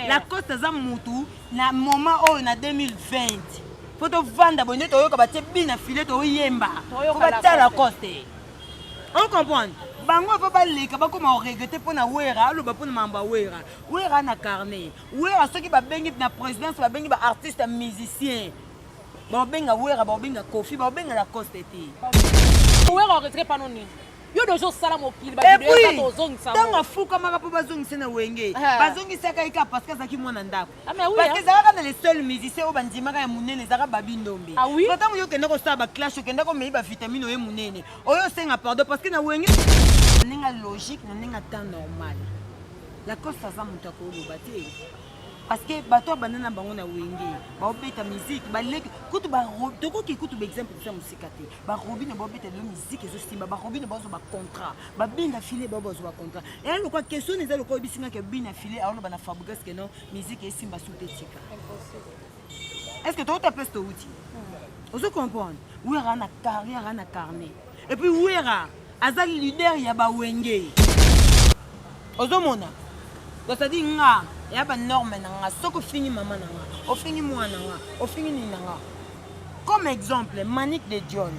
lacoste aza mutu na moment oyo na 2020 mpo tovanda boye nde toyoka batie bi na file toyemba po batya lacoste o comprendre bango ava baleka bakoma koregrete mpo na wera aloba mpo na mambo ya wera wera na carnet wera soki babengi na présidence babengi baartiste musicien baobenga wera baobenga kofi baobenga lacoste te wera oretre pano nini yo de ozosala mokili ntango afukamaka mpo bazongise na wenge ah. bazongisaka ye kaka parceke azalaki mwana ndako ah, parceke ezalaka na le seul musicien oyo bandimaka ya monene ezalaka babi ndombe ah ntango yo okenda kosala baclash okenda komei bavitamine oye monene oyo osenga pardon parceke na wenge na ndenge ya logique na ndenge ya temps normal lacoste aza moto akoloba te parce que bato ya banda na bango na wenge baobeta miziki baleki kutu tokoki kutu baexemple kosa mosika te barobine baobeta lelo miziki ezosimba barobine baozo bacontrat babina file bao bazo bacontrat eya lokwa question eza lokwa oyebisi nga ke bina file aoloba na fabrigas ke non miziki esimba su te tika est ce que tokota place towuti hmm. ozo comprendre wi aka na carrière ana carnet Et puis Wera aza leader ya ba wenge. Ozomona? Donc ça dit nga ya ba norme na nga soko fingi mama na nga, ofingi mwana nga, ofingi nini na nga. Comme exemple Manick de Dion.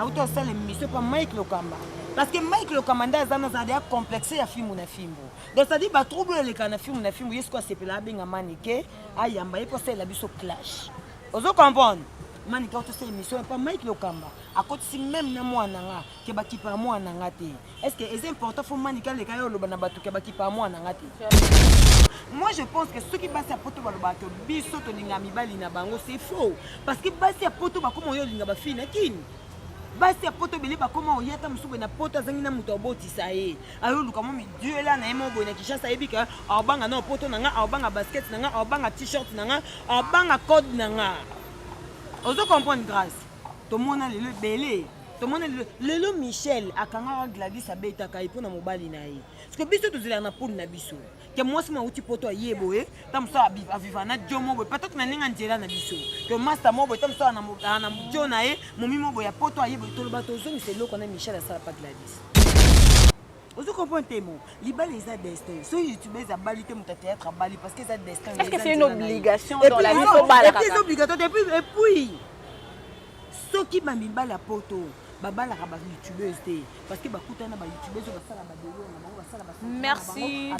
Auto asala émission pa Mike Lokamba. Parce que Mike Lokamba nda aza na za ya complexe ya fimbu na fimbu. Donc ça dit ba trouble eleka na fimbu na fimbu yesu ko asepela abenga Manick ayamba ye ko sala biso clash. Ozo comprendre? mani kaka tosala émission epa mike lokamba akotisi meme na mwana nga ke bakipa ya mwana nga te est ce que eza important fo manika aleka yo oloba na bato ke bakipa ya mwana nga te moi je pense que soki basi ya poto balobaka to biso tolinga mibali na bango c'est faux parce que basi ya poto bakoma oyo olinga bafii na kini basi ya poto ebele bakoma oya ata mosusu boye na poto azangi na moto abotisa ye ayoluka mo miduela na ye moko boye na kishasa ayebi ka aobanga na poto na nga aobanga basket na nga aobanga t-shirt na nga aobanga code na nga ozo comprendre grâce tomona lelo ebele tomona lelo lelo michel akangaka gladis abetaka ye mpo na mobali na ye siko biso tozelaka na pole na biso ke mwasi mwa auti poto aye boye ta mosusu aviva na jo mo boye patatu na ndenge ya nzela na biso to masta mo boye ta mosusu na jo na ye momi mo boye ya poto aye boye toloba tozongisa eloko na michel asala pa gladis ozo comprendre te mo libala eza destin soki youtubes abali te moto ya théâtre abali parce que eza destin Est-ce que c'est une obligation dans la vie faut bala kaka obligatoire te puis et puis soki ba mibala poto babalaka ba youtubeuse te parce que bakutana ba youtubeuse oyo basala ba delo na bango basala ba merci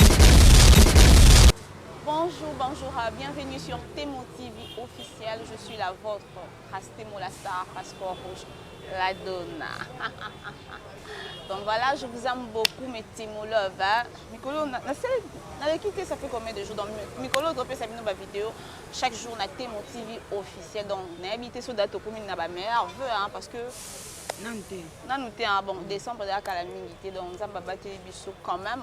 Bonjour, bonjour, bienvenue sur Temo TV officiel, je suis la vôtre. Hastimo la star passeport rouge la donna donc voilà je vous aime beaucoup mes timo love hein. mikolo nasali naleki te ça fait combien de jours donc mikolo topesa bino bavideo chaque jour na te mon tv officiel donc nayebi te so date okomi na bameilleur veu hein, parce que nanu te nanu te hein. bon décembre ezalaka kala mingi te donc nzambe abateli biso quand même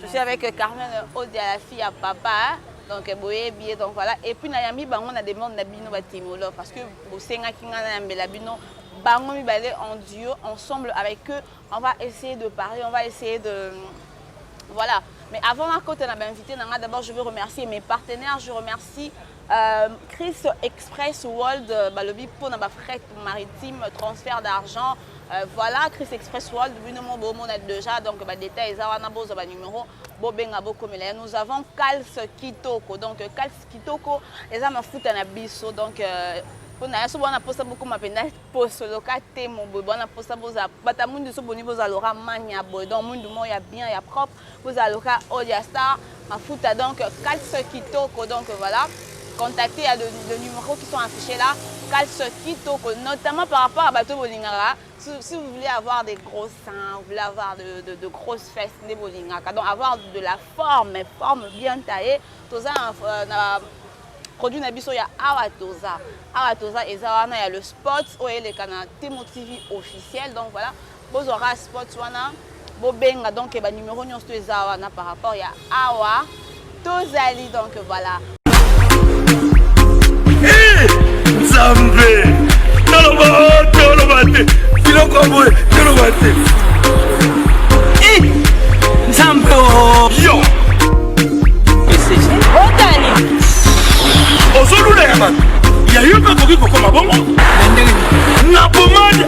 Je suis avec euh, Carmen Odia, la fille à papa. Donc, euh, boye billet, donc voilà. Et puis, na yambi bango na demande na bino ba timolo parce que bosenga kinga na yambela bino bango mibale en duo ensemble avec eux. On va essayer de parler, on va essayer de voilà. Mais avant ma côte, on a invité Nanga. D'abord, je veux remercier mes partenaires. Je remercie euh, Chris Express World, euh, Balobi, pour ma fret maritime, transfert d'argent. Euh, voilà Chris Express World bino mo bomona déjà donc ba détails eza wana bozwa ba numéro bobenga bokomela ya nous avons Kals Kitoko donc Kals Kitoko eza mafuta na biso donc euh, mpo na yaso bwana mposa bokoma mpenza posoloka te moboye bwana mposa bozala bata mundu so boni bozala lora mania boye donc mundu moko ya bien ya propre Bozala loka Odia Star mafuta donc calce kitoko donc voilà contacter ya le, le numéro qui sont affichés là calce kitoko notamment par rapport à bateau bolingaka si, si vous voulez avoir des gros seins vous voulez avoir de, de, de grosses fesses nde bolingaka donc avoir de la forme forme bien taillée toza na, euh, na produit na biso ya awa toza awa toza eza wana ya le spot oyo eleka na temo tv officiel donc voilà Bozwa kaka spot wana bobenga donc ba numero nyonso to eza wana par rapport ya awa tozali donc voilà nzambe toloba oh, toloba te biloko boye toloba te nzambe oh. yo otani ozolula ya bato ya yo mpe akoki kokoma bongo na ndenge na pomade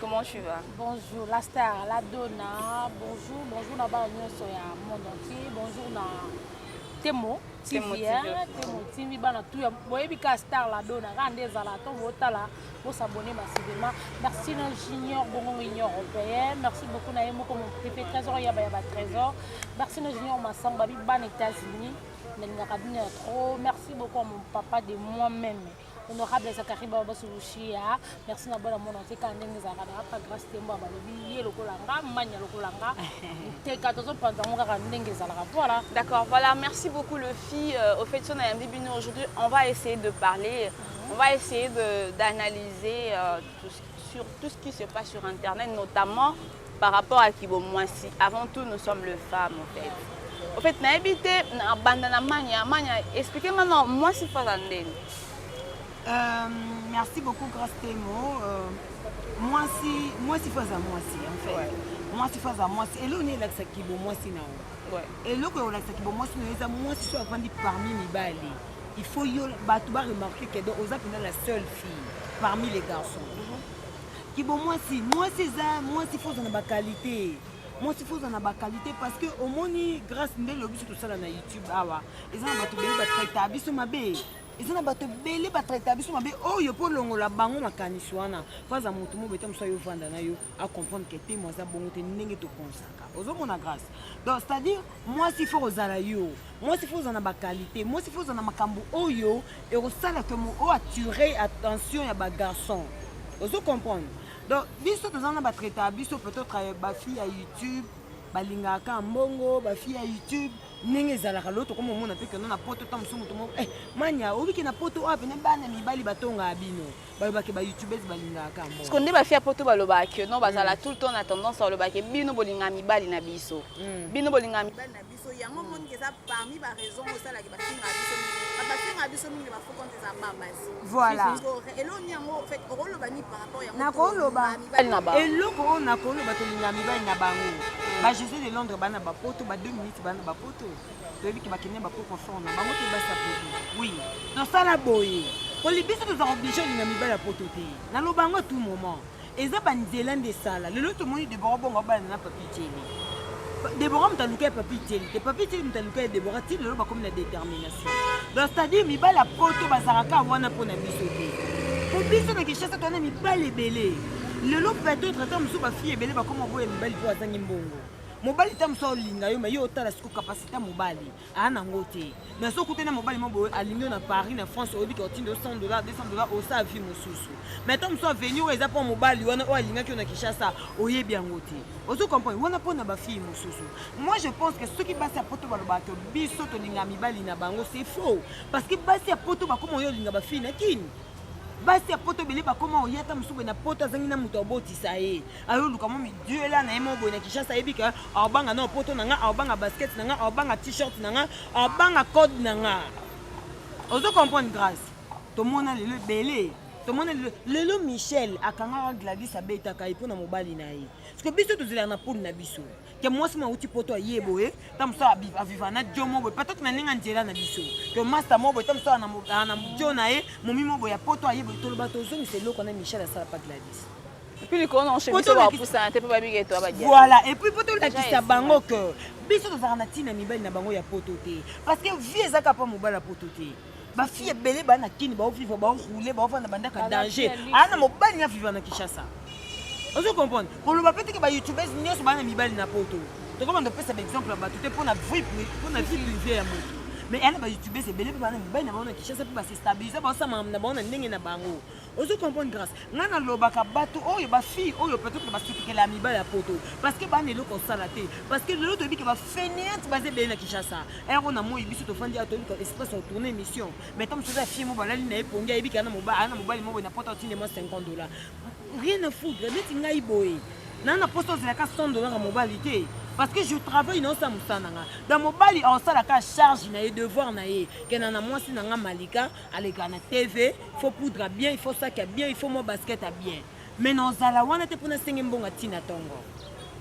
Comment tu vas Bonjour, la star, la donna. Bonjour, bonjour na ba nyonso ya monde entier. Bonjour na Temo TV, Temo TV. hein, Temo TV bana tout ya boyebi ka star la donna ka nde ezala to botala bo s'abonner massivement. Merci na Junior Bongo Union Européenne. Merci beaucoup na Yemoko mon privé trésor ya ba ya ba trésor. Merci na Junior Massamba bi bana États-Unis. Nalingaka bino ya trop. Merci beaucoup à mon papa de moi-même. honorable zakari baba basulushi ya merci na bana mona te kaka ndenge ezalaka na apa grace tembo balobi ye lokola nga mania lokola nga teka tozopanza yango kaka ndenge ezalaka voilà d'accord voilà merci beaucoup le fille euh, au fait so nayambi bino aujourd'hui on va essayer de parler mhm. on va essayer d'analyser euh, tout, sur tout ce qui se passe sur internet notamment par rapport à kibo mwasi avant tout nous sommes le femme en fait en fait nayebi te na banda na mania mania expliquer maintenant mwasi faza ndeni euh, merci beaucoup grace temo euh, mwasi mwasi faza mwasi en fait ouais. mwasi faza mwasi eloko nini elakisa kibo mwasi na yo eloko ya olakisa kibo mwasi na yo eza mwasi soki avandi parmi mibali il faut yo bato ba remarquer que donc oza mpena la seule fille parmi les garçons Kibo mwasi, mwasi eza mwasi faut na ba qualité. Mwasi faut na ba qualité parce que omoni grâce nde lobi biso tosala na YouTube awa. Eza na bato bele ba traita biso mabe. Eza na bato bele ba traita biso mabe oyo po longola bango makanisi wana. Faza moto mo beta musa yo vanda na yo a comprendre que te mwaza bongo te ndenge to pensaka. Ozo mona grâce. Donc c'est-à-dire mwasi faut ozala yo. mwasi fo oza na bakalite mwasi fo oza na makambo oyo ekosala ke oyo attire attention ya bagarçon ozo comprendre donc biso toza na batraite ya biso peut-être euh, bafille ya youtube balingaka mbongo bafille ya youtube ndenge ezalaka lelo tokoma omona mpe keno na poto ta mosusu moto moko eh, mania obiki na poto oyo pene bana mibali batongaka bino balobake bayoutubese balingaka mbosko nde bafia poto balobaka keno bazala mm. tout le temps na tendance balobake bino bolingaka mibali na biso mm. bino bolingaka mibali na biso so yango omoni hmm. eza parmi ba raison osalaki bafinga biso mingi bafinga biso mingi ba faux compte eza babasi voilà eloko ni yango fait okoloba ni par rapport yango nakoloba eloko oyo nakoloba tolinga mibali na bango hmm. ba josé de londres bana bapoto ba deux minutes bana bapoto toyebi ke bakende bakoko fort na bango te basa poto oui tosala boye kolibiso toza oblige olinga mibali ya poto te naloba yango tout moment Eza ba nzela nde esala. Lelo tomoni Deborah bongo abalana na Papi Djeli. Deborah moto aluka ya Papi Djeli te. Papi Djeli moto aluka ya Deborah ti lelo bakomi na détermination. Donc c'est-à-dire mibali ya poto bazalaka kaka wana mpo na biso te. Mpo biso na Kinshasa toza na mibali ebele. Lelo peut-être ata mosusu ba fille ebele bakoma boya mibali mpo azangi mbongo. Mobali ta mosusu aolinga yo mais yo otala siko capacité ya mobali. aa nango te mais soki okutani na mobali mo boye alingi yo na paris na france oyebi ke otindo 100 dollar 200 dollar osa vie mosusu mais to mosusu aveni oyo eza mpo mobali wana oyo alingaki yo na kinshasa oyebi yango te ozo comprendre wana mpo na bafille mosusu moi je pense que soki basi ya poto balobaka to biso tolinga mibali na bango c'est faux parce que basi ya poto bakoma oyo olinga bafille na kini basi ya poto bele bakoma oyata mosusu boye na poto azangi na moto abotisa ye ayo luka mo miduela na ye mo boye na Kinshasa ayebi ke aobanga na poto na nga aobanga basket na nga aobanga t-shirt na nga aobanga code na nga ozo comprendre grâce tomona lelo ebele tomona lelo lelo michel akangaka gladis abetaka ye mpo na mobali na ye parceke biso tozelaka na pole na biso ke mwasi mauti poto aye boye ta mosusu aviva na jo mo boye patatu na ndenge nzela na biso to masta mo boye ta mosusu ana jo na ye momi mo boye ya poto aye boye toloba tozongisa eloko na michel asalaka gladis Puis likolo na oshe biso bapusana te mpo babika eto abadia. Voilà, et puis mpo tolakisa bango que biso tozalaka na ntina mibali na bango ya poto te parce que vie ezaka mpo mobali ya poto te bafille ebele baa na kini baovivre baoroule baovanda bandaka danger aa na mobali na vivre na kinshasa ozo comprendre koloba mpe teke bayoutubers nyonso baa na mibali na poto tokomanda kopesa baexemple ya bato te mpo na vie privé ya moto mais aa na bayoutubers ebele mpe baa na mibali na bango na kinshasa mpe basestabilise baosama na bango na ndenge na bango ozo comprendre grâce nga nalobaka bato oyo bafille oyo peut-être basutukela ya mibali ya poto parce que bana eloko osala te parce que lelo toyebi ke bafeneante baza ebele na kinshasa ero na moi biso tofandi ya toyebi espace ya tourne émission mais ntango mosusu ya fille mo balali na ye pongi ayebi kana ana mobali mo boye na poto atinde mwa 50 dollar rien à foudre neti ngai boye naa na poso ozelaka 100 dollar ya mobali te parce que je travaille na osala mosala na nga na mobali aosalaka charge na ye devoir na ye kena na mwasi na nga malika aleka na tv faut poudre ya bien il faut saki ya bien il faut mwa basket ya bien mais nazala wana te mpo nasenge mbongo atina ntongo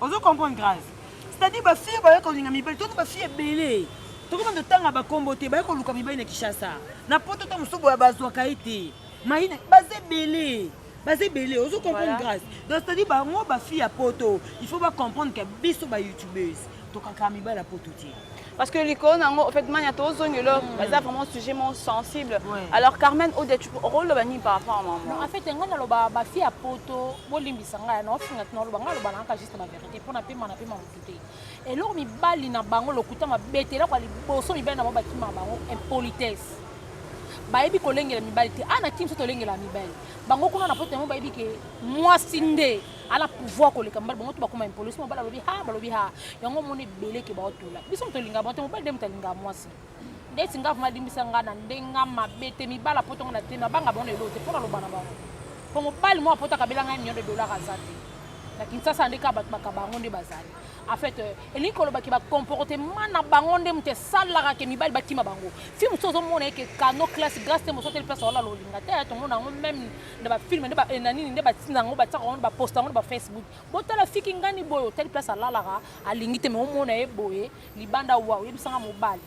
ozo comprendre grâce c'est-à-dire bafille baye kolinga mibali toti bafille ebele tokoki bando tanga bakombo te baye koluka mibali na kinshasa na poto to mosusu boya bazwaka ye te mayina baza ebele baza ebele ozo comprendre voilà. grâce donc c'est à dire bango bafille ya poto il faut bacomprendre ke biso bayoutubese tokaka mibala poto te parce que likolo nango en fait mania tozongi lo mm. baza vraiment sujet mo sensible ouais. alors carmen odia tu okoloba nini par rapport à maman en fait ngai naloba bafille ya poto bolimbisa ngai naofingaki naloba ngai aloba nanga juste bavérité mpo napema napema motu te eloko mibali na bango lokuta mabete eloko ya liboso mibali na bango bakimaka bango impolitesse bayebi kolengela mibali te ana ah, kimso tolengela mibali bango kuna na poto yango bayebi ke mwasi nde ala pouvoir koleka mobali bango to bakoma impolitesse mobali alobi ha balobi ha yango omoni ebele ke baotola biso moto olingaka bango te mobali nde moto alingaka mwasi ndeti nga vraimen alimbisa nga na nde nga mabe te mibala poto nga na te nabanga bango na eloo te mpo naloba na bango mpo mobali moko poto akabela ngai million de dollar aza te na kinsasa nde kaka bato bakaba yango nde bazali en fait euh, elingi koloba ke bacomportement na bango nde moto esalaka ke mibali bakima bango fi mosusu ozomona eke cano classe grace te mosoteli place olala olinga te tomona yango meme na bafilme nde eh, na nini nde batina yango batiaka yango baposta yango na bafacebook botala fiki ngani boye otali place alalaka alingi te me omona ye boye libanda wa oyebisa nga mobali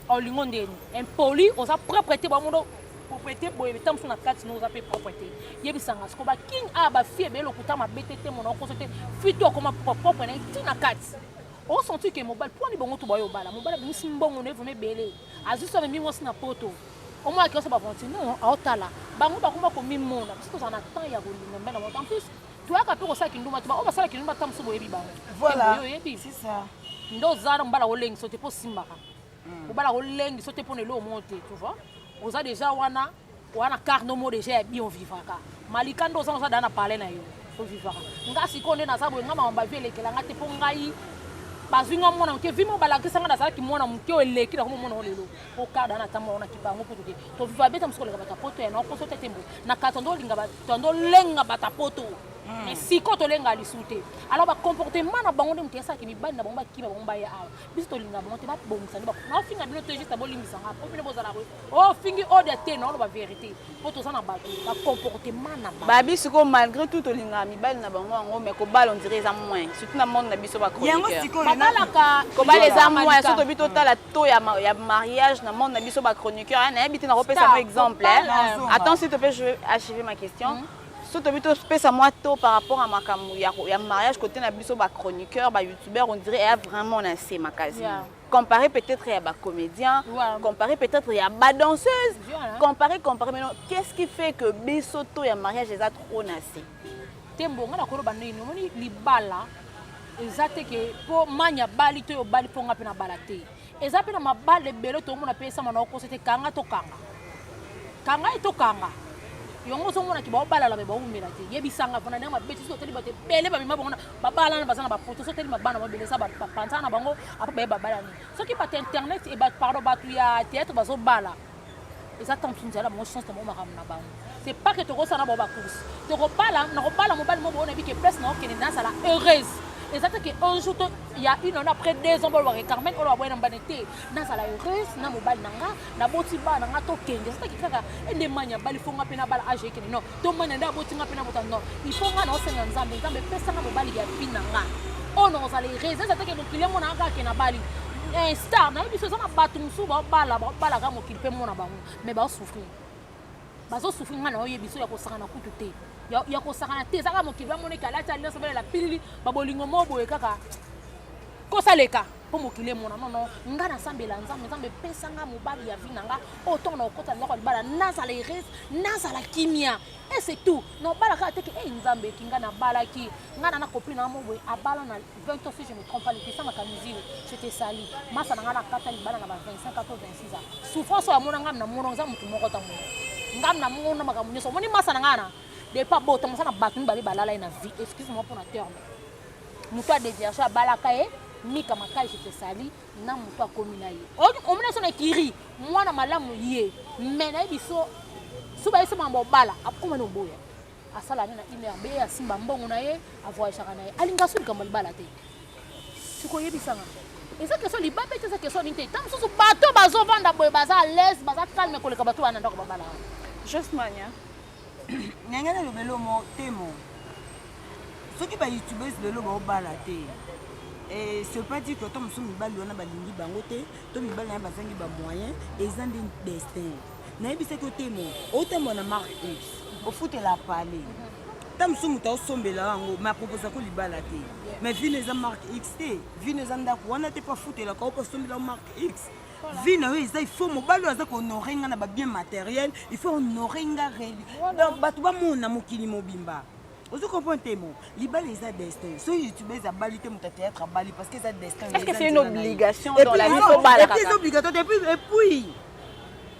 olingo ndeni impoli oza propre te bamondo propriété boye ntango mosusu na kati no oza mpe propre te yebisanga siko baking a bafie ebele lokuta mabe te te mona okoso te fui to akoma propre na ye ti na kati osentir ke mobali mpo ani bongo to bayo obala mobali abimisi mbongo na ye vraimen ebele azwi so amemi mwasi na poto omonaki oso baventure non aotala bango bakoma komimona biso tozala na temps ya kolinga mbe na moto en plus toyaka mpe kosala kindumba te baoyo basala kindumba ta mosusu boyebi bango voilà oyebi c'est ça nde oza na mobala kolengiso te mpo osimbaka hmm. mobala kolengiso te mpo na eloo moko te tu vois oza déjà wana wana carno mo déjà ya bi ovivaka malika nde oza oza daa na palais na yo ovivaka nga sikoyo nde naza boye nga makambo bavi elekela nga te mpo ngai bazwi nga mwana moke vi mo balakisa nga nazalaki mwana moke oyo eleki nakoma mwana oyo lelo okada na ntango wana kipa yango kutu te toviva beta mosuku oleka bato ya poto ya nao poso te te mbo na kato nde olinga tondo lenga bata poto hmm. mais siko tolenga lisu te alors bacomportement na bango nde moto esalaki mibali na bango bakima bango baya awa biso tolinga bango te babongisa nde naofinga bino te juste bolimbisa nga po bino bozala ko ofingi oh, ode te naoloba verité po toza na bato bacomportement na bango babi sikoyo malgré tout tolingaka mibali na bango yango mais kobala ondire eza moins surtout na monde na biso bachroniqueur babalaka kobala eza moins so tobi totala to ya, ya mariage na monde na biso ba chroniqueur hein, nayebi te nakopesa yango exemple hein. attends s'il te plaît je vais achever ma question mm -hmm. so tobi topesa mwa to par rapport à makambo ya, ya mariage côté na biso ba chroniqueur ba youtubeur on dirait eya vraiment na nse makasi yeah. comparé peut-être ya bacomédien ouais. comparé peut-être ya badanseuse yeah, hein? comparé comparé maintenant qu'est-ce qui fait que biso to ya mariage eza trop na nse te mbo nga nakoloba nini omoni libala eza te ke mpo mani abali to obali mpo nga mpe nabala te eza mpe na mabala ebele toomona mpe esama na okosa te kanga tokanga kanga ye tokanga yango ozomona ke baobalala me baumela te yebisanga mpona ndenge mabeti soki otali bato ebele bamema bango babalana baza na bapoto soki otali mabana mabele eza bapanzana na bango apo baye babalani soki bato internet pardon bato ya théâtre bazobala eza ntango mosusu nzala bango chance na bango makambo na bango c'est pas que tokosala na bango bacourse tokobala nakobala mobali moko onayebi ke place naokende nazala heureuse eza te ke un jour ya une année après deux ans bolobaka carmen oyo baboya na mbane te nazala heureuse na mobali na nga naboti bana na nga tokende eza te ke kaka endemani abali fonga mpe nabala age ekende non to mwana nde aboti nga mpe na botando il faut nga na osenga nzambe nzambe epesanga mobali ya fille na nga oyo nakozala erese eza teke mokili yango nanga kake na bali eh, star nayebi biso eza na bato mosusu baobala baobalaka mokili mpe mona bango mais baosouffrir bazosouffrir nga na oye biso ya kosakana kutu te ya kosakana te ezaka mokili bamoneki alati alliance balela pilili babolingo moo boye kaka kosaleka mpo mokili emona nono ngai nasambela nzambe nzambe epesa ngai mobali ya vi na ngai oyo ntongo na kokota ndako ya libala nazala erese nazala kimia e c'est tout nobala kaka teke ei nzambe eki ngai nabalaki ngai na nakopli na moboye abala na 20 ans si je me trompe pas lepesa makamizili cete sali masa na ngai nakata libala na ba 25 ans to 26 ans souffrance oyo amona ngai na mona oza motu moko ntango ngai na mona makambo nyonso omoni masa na ngai na depa bota mosana bato mibale balala ye na vie excuse moi mpo na terme moto ya deviation abalaka ye mika makasi tosali na moto akomi na ye omona so na kiri mwana malamu ye me na ye biso so bayesema na bobala akoma na oboya asala nde na inrb asimba mbongo na ye avoyagaka na ye alinga so likambo libala te sikoyebisanga eza keso libabe te eza keso nini te ntango mosusu bato bazovanda boye baza alaise baza calme koleka bato wana ndako babala wana Nenge naloba elomo temo soki ba youtubers lelo baobala te eh, ce pas dire que ata mosusu mibali wana balingi bango te to mibali naye bazangi bamoyen eza nde destin nayebisaki otemo otambwa na mark x ofutela pale ta mosusu moto aosombela yango ma proposa ko libala te mais vino eza mark x te vino eza ndako wana te mpo afutelaka o mpo asombela mark x vie na yo eza il faut mobali oyo aza kohonore nga na babien materiel il faut honore nga reli donc bato bamona mokili mobimba ozo comprendre te mo libala eza destin so youtubese abali te moto ya théâtre abali parce que eza destin eza obligatoire te epuis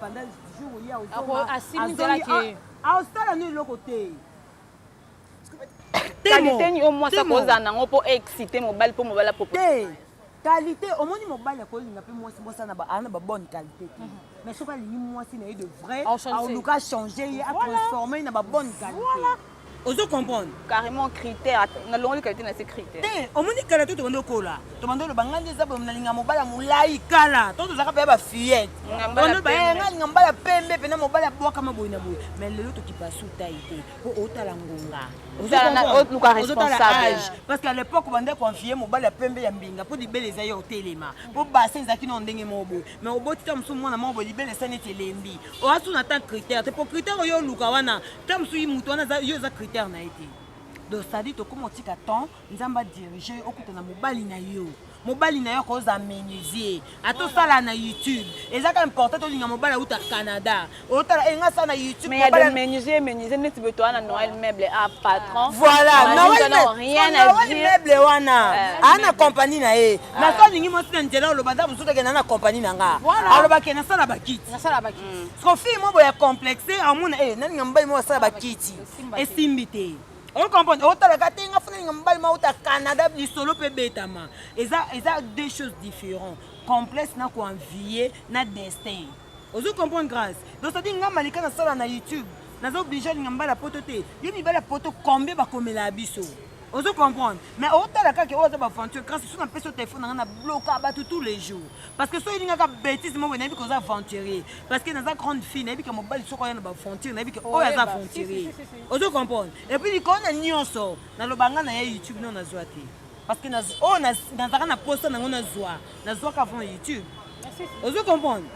Pendant jour ye azonga. Asimi nzela ke. Aosala nini eloko te. Kalite ni o mwasi akozala nango mpo excite mobali mpo mobali apopo. Te. Kalite omoni mobali akolinga mpe mwasi mwasi ana ba bonne kalite te. Mhm. Mais soki alingi mwasi na ye de vrai, aoluka changer ye, a transformer ye na ba bonne kalite. ozo comprendre carrément critère na longoli kalite na se critère te eh, omoni kala to tobando kola tobando loba ngandi eza boye nalinga mobala molai kala to tozaka pe ba fillette tobando ba eh, nga linga mbala pembe pe na mobala bwaka maboyi na boye mais lelo to kipa suta ite po otala ngonga ozotala responsable parce qu'à l'époque bande confier mobala pembe ya mbinga po libele eza yo otelema po base ezaki na ndenge moko boye mais oboti ta mosusu mwana moko boye libele esani ete elembi oasu na tant critère te po critère oyo oluka wana ta mosusu ye moto wana yo eza critère na ye te donc sadi tokoma otika temps nzambe adirige yo okuta na mobali na yo mobali na yo akozala menuisier ata osala na youtube eza ka important tolinga mobali auta canada otala enga eh, asala na youtube menuisier menuisier neti boye towana noel meuble a ah, patron ah. voilà noel meuble wana aa na compagnie na ye ah. naso alingi mwasi na nzela oloba nda mosusu akenda na compagnie na nga alobaki nasala bakiti Ko fille moko ya complexe amona eh nani ngambai moko asala bakiti esimbi te. On comprend otala ka te nga funa ngambai moko ta Canada lisolo pe betama. Eza eza deux choses différentes. Complexe na ko envier na destin. Ozo comprendre grâce. Donc ça dit nga malika na sala na YouTube. Nazo oblige ngambala poto te. Yo mibala poto combien bakomela biso? ozo comprendre mais otala kaka oyo aza baventure kasi so napesi yo telefone na ngai na bloka bato tous les jours parce que soki elingaka bétise moko nayebi koza aventurier parce que naza grande fille nayebi ke mobali soko aya na baventure nayebi ke oyo aza aventurier ozo comprendre epuis likolo na nyonso naloba ngai na ya youtube no nazwa te parce que oyo nazalaka na posa nango nazwa nazwaka avant youtube ozo comprendre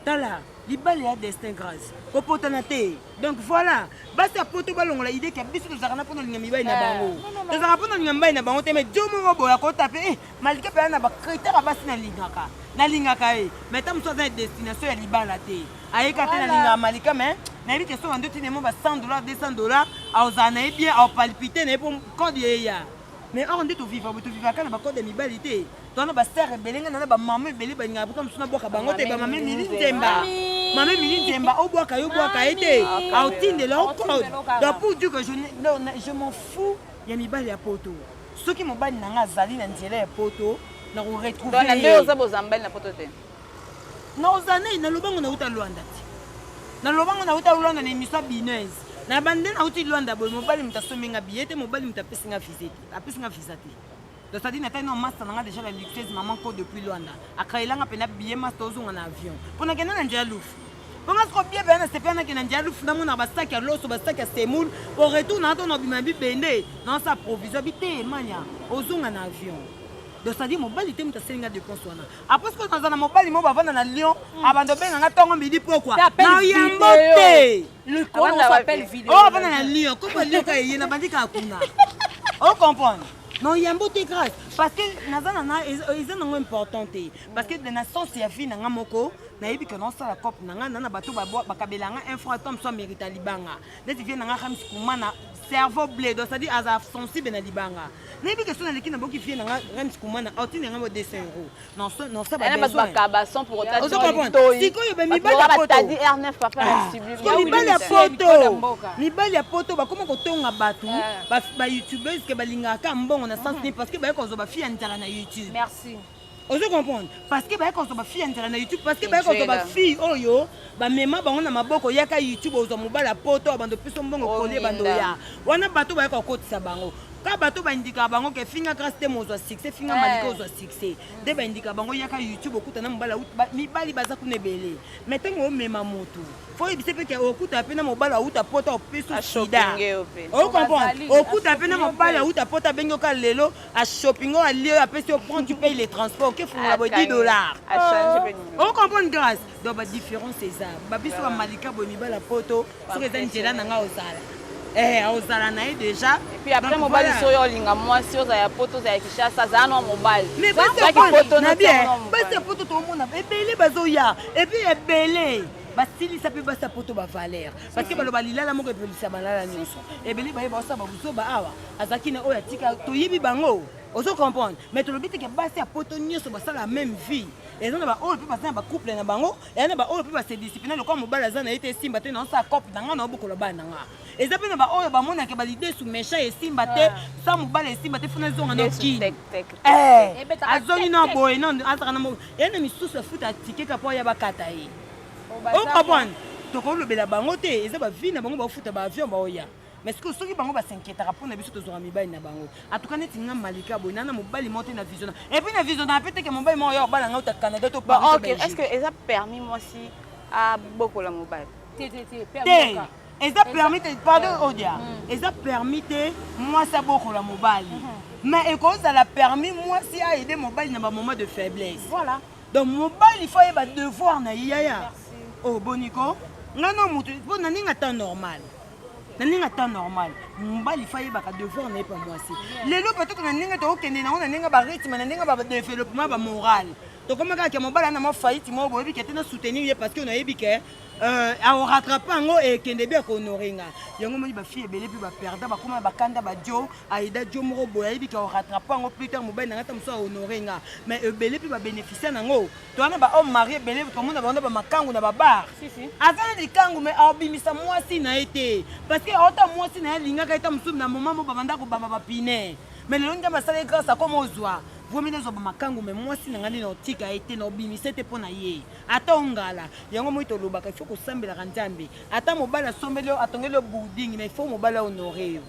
tala libala ya destin grâce kopotana te donc voilà basi ya poto balongola idée ke biso tozalaka na mpona olinga mibali na eh, bango tozalaka mpona olinga mibali na bango te mai jo moko boya kota pe eh, malika mpe na bacritère ya basi nalingaka nalingaka ye eh. mai ta mosusu aza na destination ya libala te ayeka te nalingaka malika mai nayebi ke soka nde tinemo ba 100 dollar 200 dollar aozala na ye bien aopalpite na ye mpo code eya mais or nde tovivaka tovivaka na bacode ya mibali te Twana ba star ebele nga na ba maman ebele ba nyaka buka musuna bwaka bango te ba maman mili nzemba. Maman mili nzemba o bwaka yo bwaka ete au tinde lo code. Donc pour dire que je non je m'en fous ya mibali ya poto. Soki mobali na nga azali na nzela ya poto na ko retrouver. Donc na ndio za bozambali na poto te. Na ozane na lobango na uta Luanda te. Na lobango na uta Luanda na emission binaise. Na bande na uti Luanda boy mobali mutasombi nga billet te mobali mutapesi nga visa te. Apesi nga visa te. Tadi na tali na masta nanga deja la luxueuse maman ko depuis Luanda. Akaila nga pena billet masta ozonga na avion. Pona kenda na njia lufu. Pona siko bia bana sepia na kenda njia lufu na mona ba sac ya loso ba sac ya semoule. Au retour na to na bima bi bende. Na sa provision bi te mania ozonga na avion. donc cetadire mobali te moto aseli nga dépense wana apres sikoyo naza na mobali moko bavanda na lion hmm. abanda obenga nga ntongo midi pokwa na yambo te oyo avanda na lion kopa lion ka eye nabandi kaka kuna ocomprendre non yambo te grâce parce que naza nana eza nango important te parce que na sens ya vie nanga moko nayebi ke naosala cope nanga na na bato bakabela nga un franc tom so amerita libanga neti vie nanga hamis kumana cerveau bledo c'est-à-dire aza sensible na libanga nayebi ke so naleki naboki vie nanga hamis kumana aotindi yanga bo 200 euros mibali ya poto bakoma kotonga bato bayoutubese ke balingaka kaka mbongo na sens nini parce que baye kozwa bafi ya nzala na youtube ozo comprendre parce que baye kozwa bafi ya nzala na youtube parce que baye kozwa bafille oyo bamema bango na maboko yaka youtube ozwa mobali ya poto abando piso mbongo kolie bandoya wana bato baye kokotisa bango ka bato baindikaka bango ke finga grace te mozwa succès finga eh. malika ozwa succès nde baindikaka bango yaka youtube okuta na mobali auta mibali baza kuna ebele mai ntango omema motu fo yebisa mpe ke okuta mpe na mobali auta pota opeso sida okomprendre okuta mpe na mobali auta pota abengi oka lelo ashopingo alie apesi yo prend tu paye le transport okefungola boye 10 dollars okomprendre grace donc badifférence eza babiso bamalika boye mibali ya poto soki eza njela na ngai ozala eh, ozala na ye deja epuis après mobali soki olinga mwasi oza ya poto oza ya kishasa azala na mobali basi ya poto toomona ebele bazoya epuis ebele basilisa mpe basi ya poto bavaler parceke baloba lilala moko epelisa balala nyonso ebele baye baosa babuzoba awa azalaki na oyo atika toyebi bango ozo comprendre mais tolobi teke basi ya poto nyonso basala meme vie eza na baoyo mpe baza na bacouple na bango eza na baoyo mpe basedisipline lokola mobali aza na ye te esimba te naosala cope na ngai naobokola bana na ngai eza mpe na baoyo bamonaka balidesu méchant esimba te ah. sa mobali esimba te funa ezonga na kini eh, eh, azongi na boye na azaka na moko ye na misusu afuta tikeka mpo ya bakata ye okomprendre tokolobela bango te eza bavie na bango baofuta baavion baoya mais sikoyo soki bango basinkietaka mpo na biso tozwaka mibali na bango atuka neti nga malika boye naa na mobali moko te na visiona epuis na visiona mpe teke mobali moko ya kobala nga uta canada to est ce que eza permis mwasi abokola mobali te te te permis eza permis te pardon mm. odia mm. eza permis te mwasi abokola mobali mm-hmm. mais ekozala permis mwasi aide mobali na bamoment de faiblesse voilà donc mobali fo ayeba devoir na ye yaya o oh, boniko ngai na motu mpo na ndenge ata normal na ndenge ata normal mobali fa ayebaka devoir na ye pa mwasi lelo peut-être na ndenge tokokende nango na ndenge barythme na ndenge badeveloppement bamorale tokoma kaka ke mobali ana mwa faillite moko boyebi ke te na soutenir ye parce que nayebi ke euh, aorattrape yango ekende bi akohonore nga yango omoni bafille ebele mpe baperda bakoma bakanda badio aida dio moko boye ayebi ke aorattrape yango plus tard mobali na nga ta mosusu ahonore nga mais ebele mpe babénéficia nango towana ba homme marie ebele tomona bango na bamakangu na babar aza na likangu mai aobimisa mwasi na ye te parce que aota mwasi na ye alingaka ye ta mosusu na moma mo babanda kobamba bapine mai lelo nzambe asala ye grâce akoma ozwa vomi nazwa bamakangu mai mwasi na ngai nde naotika ye te naobimisa te mpo na ye ata ongala yango moi tolobaka ifo kosambelaka nzambe ata mobali asombeli yo atongeli yo boarding mai ifo mobali ahonore yo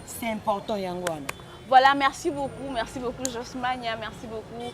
c'est important yango wana Voilà, merci beaucoup, merci beaucoup Josmania, merci beaucoup.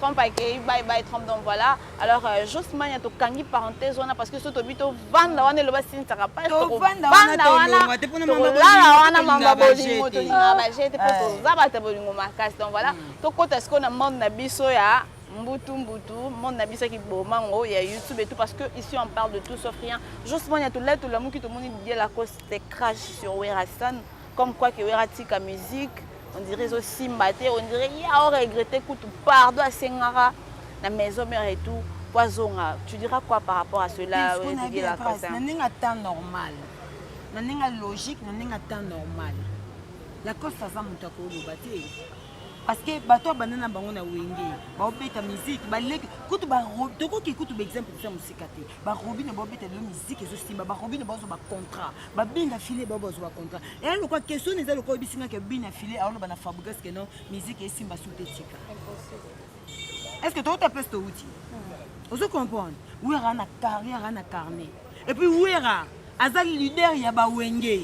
Trump akeyi bye bye Trump donc voilà alors euh, Jos Mania tokangi parenthèse wana parce que soki tobi tovanda wana eloba sinisaka pasi tovanda wana tolongwa te mpona tolala wana mamba bolingo tolingaka baje te mpo ah. toza bato ya bolingo makasi donc voilà hmm. tokota sikoyo na monde na biso ya mbutu mbutu monde na biso akiboma yango ya youtube et tout parce que ici on parle de tout sauf rien justement ya tolai tolamuki tomoni didier lacoste crash sur werrason Comme quoi que Werra tika musique, on dirait ezo simba te, on dirait ye ao regretter kutu pardon asengaka na maison mère et tout po azonga. Tu diras quoi par rapport à cela Discours na ye Wezigela Beatrice, Kosa? na ndenge ya temps normal na ndenge ya logique na ndenge ya temps normal lacoste aza moto ya koloba te parce que bato ya banda na bango na wenge baobeta miziki baleki kutu tokoki kutu baexemple eza mosika te barobine baobeta lelo miziki ezosimba barobine baozwa bacontrat babina file bao bazwa bacontrat eya lokola question eza lokola oyebisi nga ke bina file aoloba na fabrigas ke non miziki esimba su te tika est ce que tokota place towuti hmm. ozo comprendre wi aka na carrière ana carnet Et puis Wera aza leader ya ba Wenge.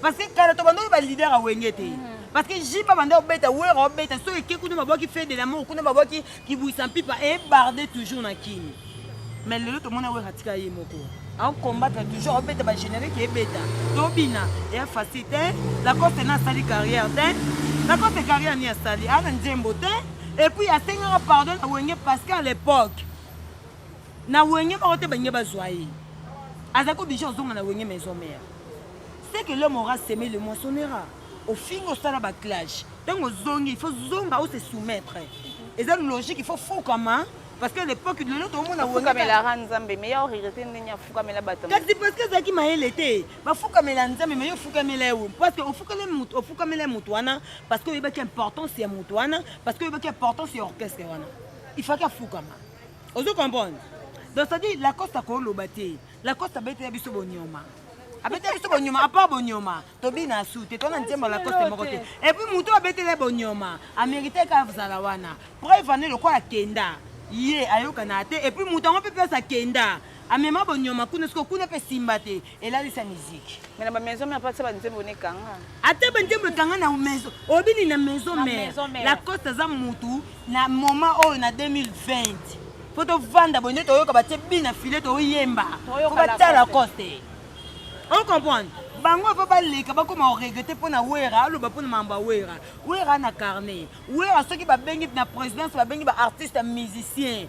Parce que kala to bando ba leader ya Wenge te. Mm. Parce que Jipa banda obeta Wera obeta so eke kuna babwaki fait de l'amour kuna babwaki kibuisa mpipa et barde toujours na kin. Mais lelo to mona Wera tika ye moko. Au combattre toujours obeta ba générique ebeta. Tobina et a facilité hein. la coste na sali carrière te. Hein. La coste carrière ni asali ana nzembo te. Et puis asengaka pardon na Wenge parce qu'à l'époque Na wenge moko te balingi bazwa ye. Azalaki oblige ozonga na wenge maison mère. Ce que l'homme aura seme le moissonnera. Ofinga osala ba clash. Tango ozongi il faut zonga o se soumettre. Eza logique il faut fukama parce que l'époque de l'autre omona wenge. Fukamela ra Nzambe mais ya regretter ndenge afukamela bato. Kasi parce que ezalaki mayele te. Ba fukamela Nzambe mais yo fukamela ye parce que ofukele moto ofukamela moto wana parce que oyebaki importance ya moto wana parce que oyebaki importance ya orchestre wana. Il fallait afukama. ozo comprendre donc ça dit lacoste akoloba te lacoste abetela biso bonyoma abetela biso bonyoma apart bonyoma tobina su te tona nzembo lacoste moko te epuis moto abetela bonyoma ameriteke azala wana preuve ane lokola kenda ye ayokana te epuis moto yango mpe mpe aza kenda amema bonyoma kuna siko kuna mpe simba te elalisa miziki mais na ba maison mère patisa ba nzembo ne kanga ata ba nzembo kanga na maison obini na maison mère la coste aza mutu na moment oyo na 2020 po tovanda boye nde toyoka batie bi na file toyemba po batya la coste on comprendre bango ava baleka bakoma oregrete mpo na wera aloba mpo na mambo ya wera wera na carnet wera soki babengi na présidence babengi baartiste musicien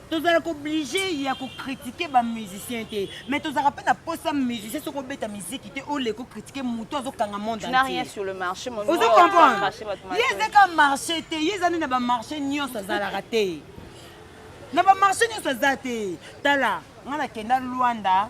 tozalaka oblige ya kokritike bamusicien te mais tozalaka mpe na posa musicien soki obeta miziki te oleka okritike motu azokanga monde ozo comprendre ye ezaka marché te ye ezali na bamarché nyonso azalaka te na bamarché nyonso aza te tala ngai nakenda lwanda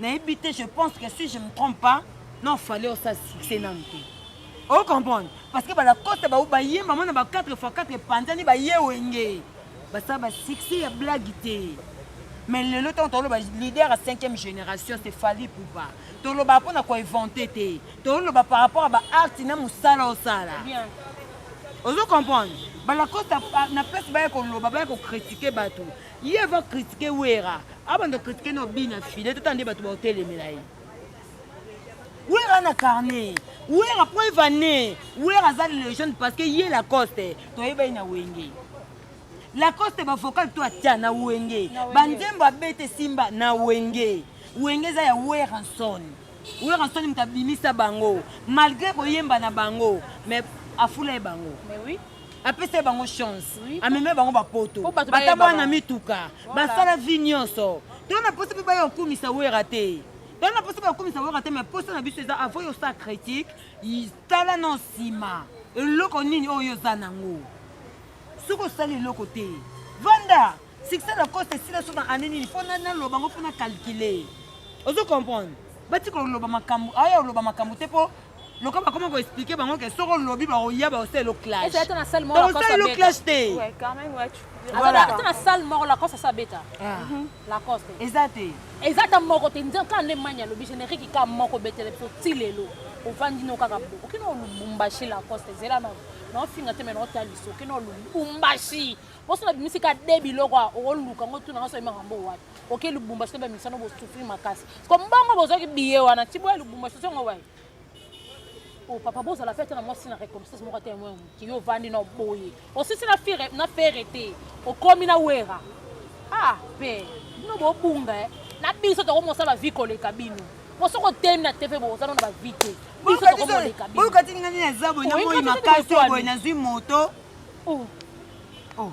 nayebi te je pense que si je me trompe pas non fallait osa succès nanu te o comprendre parce que balacoste bao bayemba mwana ba 4 fois 4 epanzani baye wenge basala basuccès ya blague te mais lelo ntango toloba leader ya 5e génération se fali pupa toloba mpo na koinvente te toloba par rapport ya baarti na mosala osala ozo comprendre balacoste na place baya koloba baya kokritike bato Ye ava kritike Wera, abanda kritike na obi na file, tata nde bato baotelemela ye. Wera na carnet, Wera preuve année, Wera aza legende parce que ye Lacoste toyeba ye na Wenge. Lacoste ba vocal to atia na Wenge, ba nzembo abete simba na Wenge. Wenge eza ya Weranson. Weranson moto abimisa bango malgré koyemba na bango mais afula ye bango. Mais oui. apesa bango chance ameme bango bapoto batabana na mituka basala vi nyonso to na mposa mpe baya okumisa wera te to na mposa bakumisa wera te mai mposa na biso eza avo yosa critique tala na nsima eloko nini oyo oza nango soki osali eloko te vanda Succès na coste esila so na année nini mpo naloba yango mpo na calcule ozo comprendre bati koloba makambo aya oloba makambo te mpo lokola bakoma koexplike bango ke soki olobi bakoya bakosalelo clashbakosalelo clash te eza te eza ta moko te nzambe kaka nde mani alobi générique kaka moko betele biso ti lelo ovandi no kaka okino olubumbashi lacoste ezela na naofinga te me naotaliso okino olubumbashi poso na bimisi ka de biloko a okoluka ngo tuna ngo soki makambo wapi oke lubumba soki bamisa no bosufri makasi ko mbongo bozwaki biye wana ti boya lubumba soki ngo wapi o oh, papa bozala mpe ata na mwasi na reconnaissance moko ata yango moki yo ovandi na oboye osisi na fere te okomi na wera ah mpe bino bobunga eh. na biso tokomosala vi koleka bino moso kotelemi na tv boza no na bavi te biso tokomoleka bino boyoka ti ningani na zabo na moi makasi oboye nazwi moto Oh. Oh.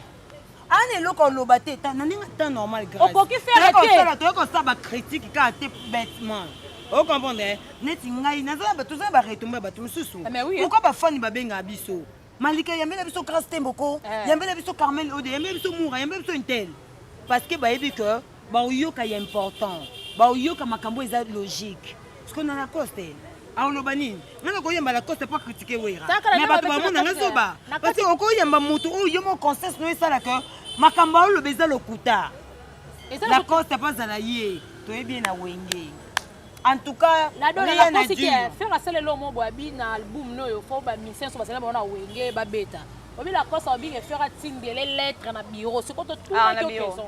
ana eloko aloba te na ndenge ta normal okoki fereosala toyei kosala bacritique kaka te bêtement ocomprendre eh? neti ngai tozala baretomba bato mosusu ah, pourkoi bafani babengaka biso malika yambela biso grace temboko eh. yambela biso carmel ode yambela biso mura yambela biso intel parce que bayebi que baoyoka ya important baoyoka makambo eza logique siko na lacoste aoloba nini nga nakoyamba lacoste mpo akritike wera me bato bamona nga zoba parce okoyamba motu oyo yo mo conscience no esala ke makambo aoloba eza lokuta lacoste mpo azala ye toyebi ye na wenge en tout cas fer asala elo mo boabi na album noyo fo bamisien so basala bango na wenge babeta obi lacoste abinge fer atindele lettre na bureau sikoto tuna yo question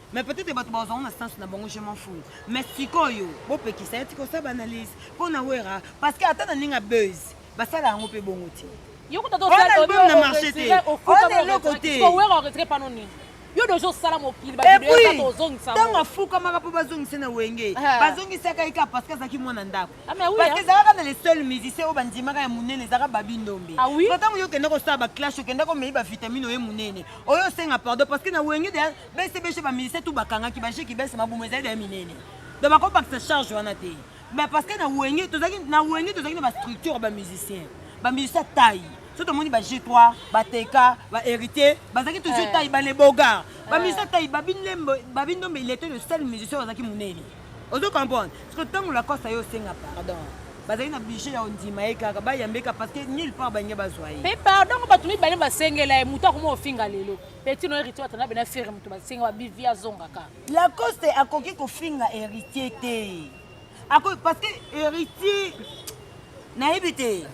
mais peut-être bato bazwango na sens na bango je m'en fous mais sikoyo bopekisa ye tika osala baanalyse mpo na wera parce que ata na ndenge ya buzz basala yango mpe bongo te yo kuta album na marché te ona eloko te yo deja osala mokili ntango afukamaka mpo bazongisa na wenge bazongisaka ye kaka parce que azalaki mwana ndako parce que ezalaka na le seul musicien oyo bandimaka ya monene ezalaka babi ndombe ntango yo okenda kosala baclash okenda komei bavitamine oye monene oyo osenga pardon parce que na wenge deja bese bese ba ministère tout bakangaki ba jeki bese mabumu ezali ya minene donc bakobakisa charge wana te mais parce que na wenge tozalaki na wenge tozalaki na ba structure ba musicien ba musicien taille so tomoni ba g3 bateka ba héritier bazalaki toujours taille ba lebogar ba musicien taille babindombe il était le seul musicien ozalaki monene ozo comprendre parce que ntango lakosta yo osenga pardon bazali na budget ya ondima ye kaka bayambe kaka parce que nulle part balingi bazwa ye mpe pardon bato mibale basengela ye moto akoma ofinga lelo petit no héritier atanda bena ferre moto basenga babivi azongaka lacoste akoki kofinga héritier te akoki parce que héritier nayebi te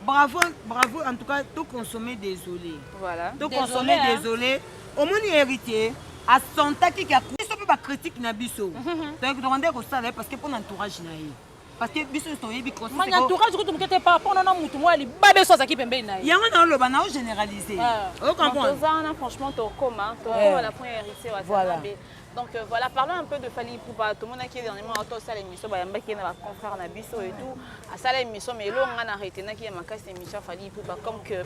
bravo bravo en tout cas to consommer désolé voilà to consommer désolé omoni héritier asentaki ke biso mpe bacritique na biso toyaki tokande kosala ye parce que mpo na entourage na ye parce que biso toyebi mani entourage kutu moke te par rapport na na motu moko ya libabe so azalaki pembeni na ye yango naoloba nao généralise otoza wana franchement tokoma tokoma na point ya héritier wasanabe donc euh, voilà parlons un peu de Fally Ipupa tomonaki ye dernièrement auto asala émission bayambaki ye na baconfrère na biso et tout asala émission mais eloko ngai na retenaki ya makasi émission Fally Ipupa comme que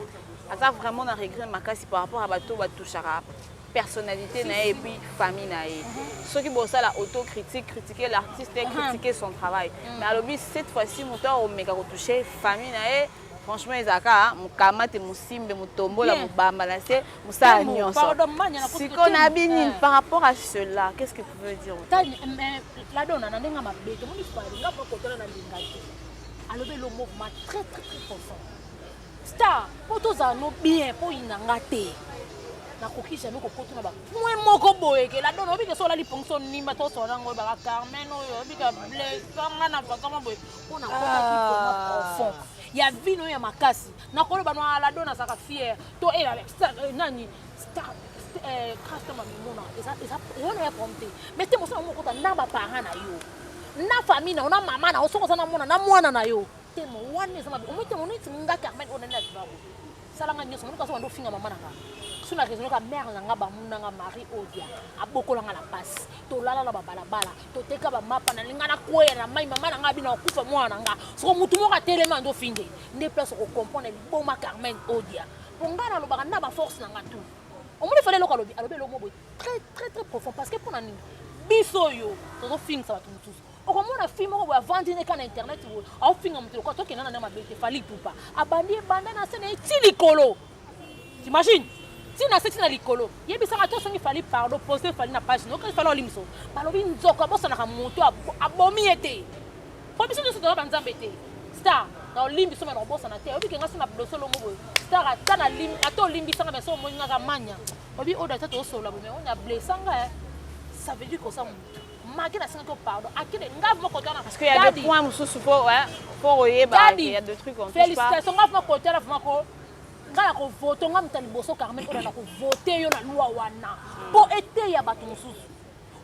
aza vraiment na regret makasi par rapport ya bato batouchaka personnalite na ye et puis famille na ye soki bosala autocritique critiquer l'artiste et critiquer son travail mm. mais alobi cette fois-ci moto akomeka kotouche famille na ye franchement ezalaka mokamate mosimbe motombola mobamba na se mosala nyonso sikoyo na bini eh. par rapport à cela qu'est ce que tu veux dire ladona na ndenge mabe tomoni alinga mpo kotala na lingaki alobi elo mouvement très très très profond Star, po tozala no bien, po yina nga te. nakoki jamais kokota na bapoint moko boye ke ladona obika so olali pongi so nima tosona yango oyebaka carmen oyo obika blesanga na vakama boye mpo nakotaki vraimen ah. profond ya vino oyo ya makasi nakoloba no ah, ladona azalaka fiere to eh, eh, nani star customer eh, mimona eyona ya problème te mais te mosala mokota na baparent na yo na famille na yo na mama na yo soki oza na mwana na mwana na yo motema wana eza mabe omotema oneti nga carmen oyo nani na bibako sala nga nyonso monika azobanda ofinga mama na nga so na raisonne ka mare na nga bamuna nga marie odia abokola nga na mpasi tolala na babalabala toteka bamapa nalinga nakweya na mai mama na nga abina kokufa mwana na nga soko motu moko atelemi ando ofinge nde place okokomprendre liboma carmen odia mpo ngai nalobaka na baforce na nga tu omoni fale eloko alobi alobi eloko mo boye très très très profond parce que mpo na nini biso oyo tozofingisa bato mosusu okomona fille moko boye avandi ne kaka na internet boye aofinga moto lokola tokenda na nde mabe te fali pupa abandi ebanda na se na ye ti likolo t'imagine ti na se ti na likolo yebisaka to songi fali pardon pose fali na page nokai fali olimso balobi nzoko abosanaka moto abomi ye te mpo biso nyonso toza banzambe te star na olimbi soki na kobosana te oyobi kenga so na doso longo boye star ata na lim ata olimbisanga mais so omoni ngaka manya obi oyo ata toosolola boye mais oyo na blessanga ça veut dire kosa moto Maki na sengi ko pardon. Akide ngave moko tana. Parce qu'il y a des points mususu po hein, po oyeba il y a des trucs on touche pas. Félicitations ngave moko tana vraiment ko ngai nakovote ngai moto ya liboso carmen oyo nakovote yo na lwa wana mpo eteya bato mosusu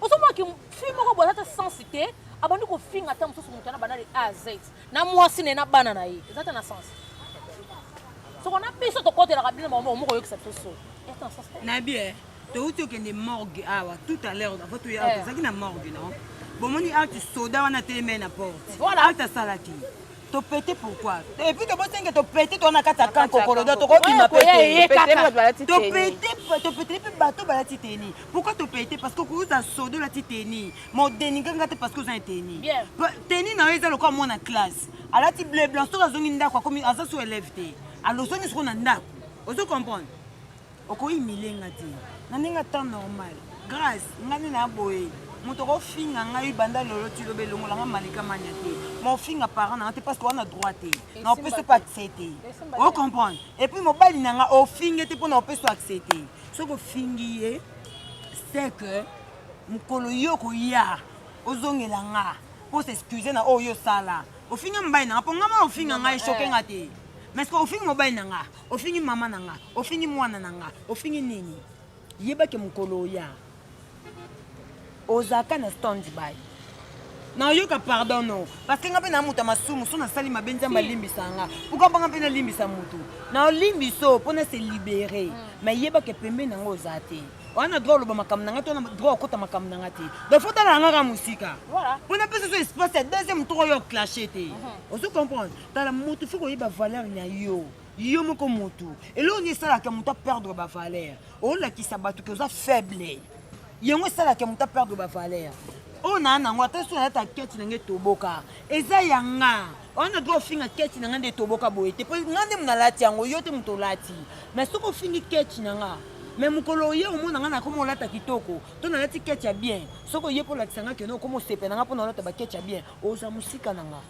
ozomaki fi moko boza ta sense te abandi kofinga ata mosusu moto wana banda de a z na mwasi ne na bana na ye eza ta na sense soko na biso tokotelaka bino moko oyoki sa biso so na bien towuti okende morgue awa tout à l'heure avant toya awa eh. tozalaki na morgue non bomoni alte soda wana teleme na porte alte asalaki topete pourquoi epuis tobosenge topete towana kati ya kan kokolodo tokobima petepetele mpe bato balati teni pourquoi topete parce que okoza soda olati teni modeninga nga te parce que oza na teni teni na yo eza lokola mwana classe alati bleu blanc soki azongi ndako aza so elève te alozongi soko na ndako ozo comprendre Oko humilie nga te. Na ndenge ya temps normal. Grace, nga nde na boye. Moto ko finga ngai banda lelo ti lobi elongola nga Malika Mania te. Mais ofinga parent na nga te parce que wana droit te. Na opesi pe accès te. O comprendre? Et puis mobali na nga ofinge te pona opesi accès te. Soki ofingi ye, c'est que mokolo yo koya ozongela nga po s'excuser na oyo yo osala. Ofinga mobali na nga po nga mona ofinga ngai choque nga te. Mais ce que ofinga mobali na nga. Ofingi mama na nga, ofingi mwana na nga, ofingi nini? Yeba ke mokolo oya ozalaka na stand by nayoka pardon no parce nga mpe na moto ya masumu so nasali mabe nzambe alimbisa nga puka banga mpe nalimbisa motu nalimbiso mpo na se libere mm. mai yebaka pembe na yango oza te wana droit oloba makambo na ngai to droit okota makambo na ngai te donc fo talangaka mosika mpo napesa so espace ya deuxième tour oyo clashe te mhm. ozo comprendre tala motu fo koyeba valeur na yo yo moko motu eloko nini esalaka moto aperdre bavaleur olakisa bato ke oza faible yango esalaka moto aperdre bavaleur oyo naa nango ata so nayata keti na ngai toboka eza ya nga wana droit ofinga keti na ngai nde toboka boye te mpo ngai nde monalati yango yo te moto olati mais soki ofingi keti na ngai me mokolo oye omona ngai nakoma olata kitoko to nalati keti ya bien soki oye mpo olakisa ngai keno okoma osepela ngai mpo na olata baketi ya bien oza mosika na ngai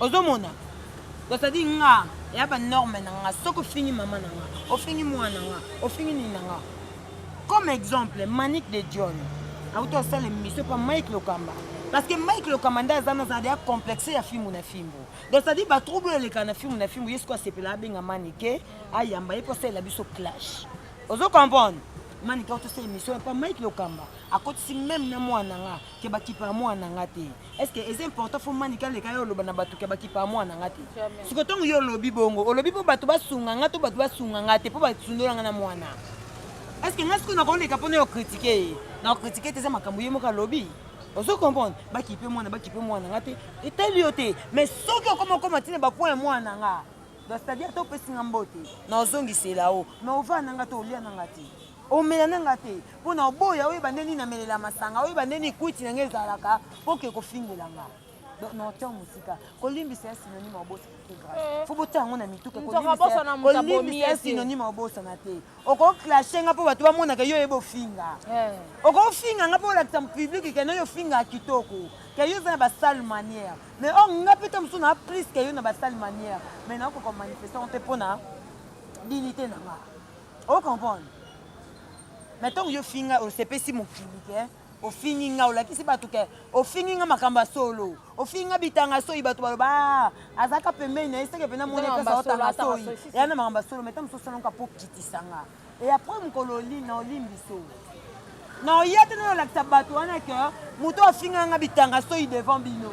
ozo mona donc ça dit nga ya ba norme na nga soki ofingi mama na nga ofingi mwana nga ofingi nini na nga comme exemple manique de dion auti asala émission pa mike lokamba parce que mike lokamba nde aza naza deya complexe ya fimbu na fimbu donc ça dit ba trouble elekaka na fimbu na fimbu ye soki asepela abenga manike ayamba ye mpo asalela biso clash ozo comprendre manike auti asala émission pa mike lokamba akotisi meme na mwana nga ke bakipa ya mwana nga te Est-ce que c'est important faut mani kale kayo oloba na batu ke baki pa mwana ngati. Siko tongo yo lobi bongo, olobi po batu basunga ngati batu basunga ngati po batu sundola ngana mwana. Est-ce que ngasiko na konde kapone yo critiquer? Na critiquer teza makambo yemo ka lobi. ozo comprendre bakipe mwana bakipe mwana nga te etali yo te mais soki okoma okoma ntina bapoint ya mwana nga c'est-à-dire te opesi nga mbote na ozongisela o mais ova na nga te olia na nga te Omela na nga te po na oboya oyeba nde nini na melela masanga oyeba nde nini kwiti na nga ezalaka po ke kofingela nga donc na otia mosika kolimbisa ya synonyme ya obosa te grave eh. fo botia yango na mituka kolimbisa ya synonyme ya obosana te okoclashe nga mpo bato bamonaka yo oyeba ofinga eh. okofinga nga mpo olakisa publike kena yo ofinga kitoko ke yo oza na basale manière mais or nga mpe ta mosusu na plus ke yo na basale manière mais nakoka manifestation mpe mpo na dignité na nga o comprendre mais ntango yo finga osepesi mokili ke ofingi nga olakisi bato ke ofingi nga makambo ya solo ofingi nga bitanga soyi bato baloba ah, azalaka pembeni na ye seke mpena moni epesa otanga soyi eya na makambo ya solo mai ntango mosusu osalonka mpo kitisa nga e apres mokolo na olimbiso na oya te nayo olakisa bato wana ke moto ofinga nga bitanga soyi devant bino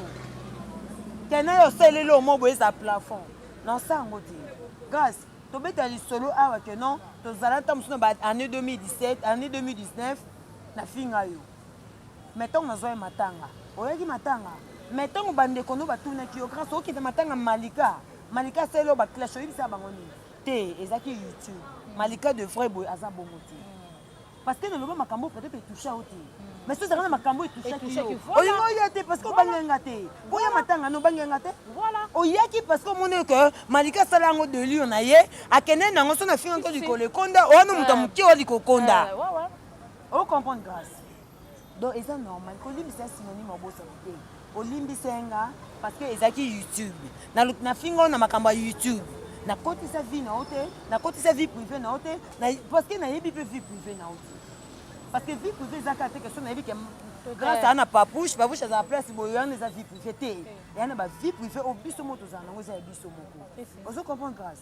ke nayo osaleli omo boye eza plafond na osa yango te grâce Tobeta lisolo awa que non tozala ntango mosusu na ba année 2017 année 2019 nafinga yo mais ntango nazwa ye matanga oyaki matanga mais ntango bandeko no batunaki yo grâce okita matanga malika malika asali yo baclash oyebisa bango nini te ezalaki youtube malika de vrai boye aza bongo te parce que naloba makambo peut-être etoucha yo te mais soki ezalaka na makambo etouchaki yo olingi oya te parce que obangela nga te boya matanga no obangela nga te oyaki parce que omoni ke malika asala yango delio na ye akende nango so na finga nko likolo ekonda owana moto ya moke oya likokonda ocomprendre grâce Donc eza normal kolimbisa synonyme obosani te olimbisa nga parce que ezalaki YouTube na na fingo na makambo ya YouTube nakotisa vie na yo te nakotisa vie privée na yo te parce que nayebi mpe vie privée na yo te parce que vie privée eza kaka te question nayebi ke grâce aa na papouche papouche azala place boye wana eza vie privée te eya na ba vie privée oyo biso moko tozala nango eza ya biso moko ozo comprendre grâce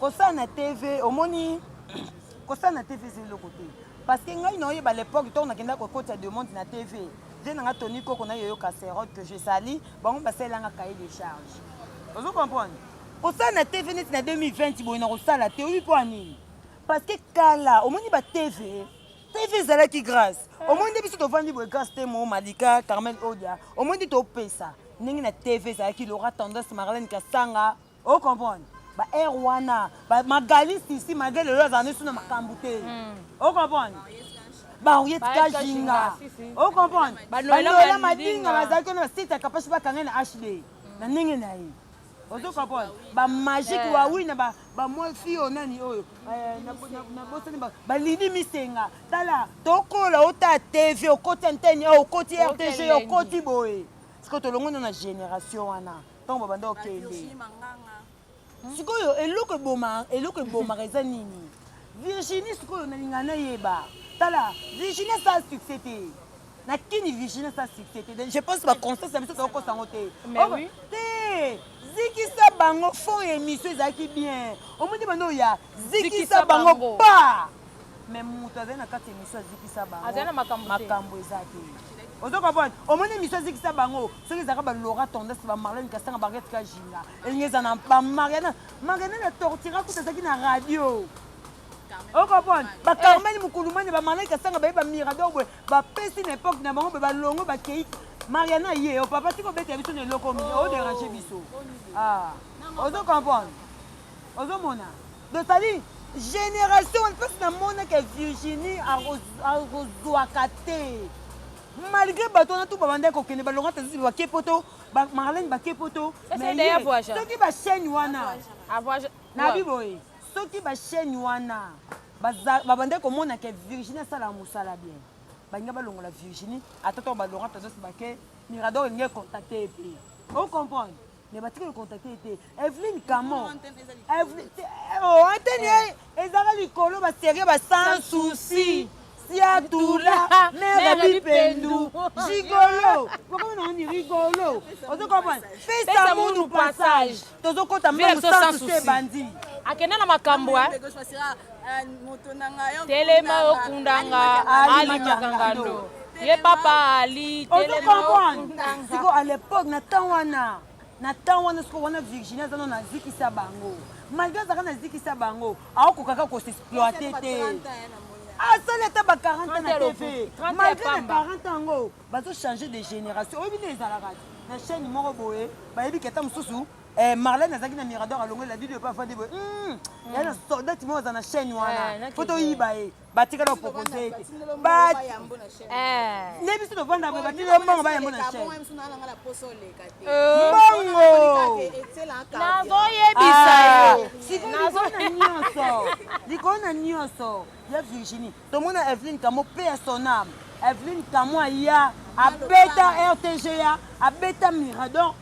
kosala na tv omoni kosala na tv eza eloko te parce que ngai na oyeba lepoque ntango nakendaka kokotisa demande na tv vie na ngai toni koko na yoyo caserote que je sali bango basalelanga cahier de charge ozo comprendre kosala na tv neti na 2020 boye na kosala te oyebi mpo ya nini parce que kala omoni ba tv tv ezalaki grâce omoni nde biso tovandi boye grâce te mo malika carmel odia omoni nde topesa ndenge na tv ezalaki lora tendance marlene kasanga o comprendre ba heure wana magali sisi malgré lelo azala nesu na makambo te hmm. o comprendre baoye tika jinga o comprendre banoela madinga bazalaki wana basite ya kapashi bakanga na hd hmm. na ndenge na ye ozo comprendre bamagike wawi eh. na bamwa fi oyo nani oyo eh, nabosani balidi misenga tala tokola ota tv okoti antene okoti rtg okoti boye sikoyo tolongona na génération wana ntango babanda kokende hmm? sikoyo eloko eboma eloko ebomaka eza nini virginie sikoyo nalinga nayeba tala virginie asala succès te na kini virginie asala succès te je pense baconstance ya biso tokokosa yango te te zikisa bango fond ya émission ezalaki bien omoni banda oya zikisa bango pa mais mutu azali na kati emission azikisa bango azali na makambo makambo eza te ozo comprendre omoni emission azikisa bango soki ezalaka ba laura tendance ba marlene kasanga barget kajinga elingi eza na ba mariana mariana na tortira kuta ezalaki na radio okomona bakarmani mokulumani bamalai kasanga baye bamirador boye bapesi na epoke na bango boye balongo bakei mariana ye o papa tika obeta biso na eloko oderange biso ozo comprendre Ozo mona? Donc ça dit génération wana place na mona que Virginie akozwaka te. Malgré bato wana tout babandaki kokende balonga te ba kepoto, ba Marlène ba kepoto. Mais soki ba chaîne wana. Na biboye. Soki ba chaîne wana babandaki komona que Virginie asala mosala bien. balinga balongola virginie ata to balonga tozosibake mirador elingi econtacte ye mpe ocomprendre mais batika kocontacte ye te eveline kamo antene ye ezaka likolo baserie ba sans souci siatula mère bipendu gigolo bokomi na oni rigolo ozokomprendre pesa munu passage tozokota meme sans souci ebandi akenda na makambo telema okundanga alimaka ngando ye papa ali telema okundanga siko à l'époque na temps wana na temps wana siko wana virginie aza no nazikisa bango malgré azalaka nazikisa bango aokokaka kosexploite te asali ata ba 40 na tv malgré na 40 yango bazochanger de génération oyebi nde ezalaka te na chaîne moko boye bayebi keta mosusu Eh, Marlène azalaki na Mirador alongoli la video epa afandi boye. Hmm. Ya na soldat mo za na chaîne wana. Faut oyiba ye. Batika na proposer ete. Ba Eh. Ne biso tovanda boye batika mbongo ba yambo na chaîne. Euh. Mbongo. Nazo yebisa ah. yo. Siko nazo na nyonso. Likolo na nyonso. Ya Virginie. Tomona Evelyne Kamo paix à son âme. Evelyne Kamo ya abeta RTGA, abeta Mirador.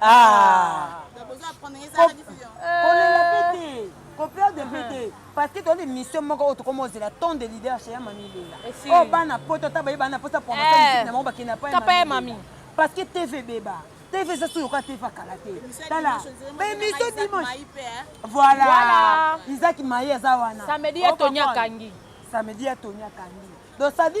Ah. kolela mpe te koperde mpe te parce que tozali mission moko oyo tokoma ozela ton de leader chez ya mami lela oyo bana poto ata baye bana mposa promotion na bango bakenda pa ya mami parce que tv ebeba tv eza soki yoka tv akala te tala bemission dimanche voilà isaki maye aza wana samedi ya toni akangi samedi ya toni akangi donc sadi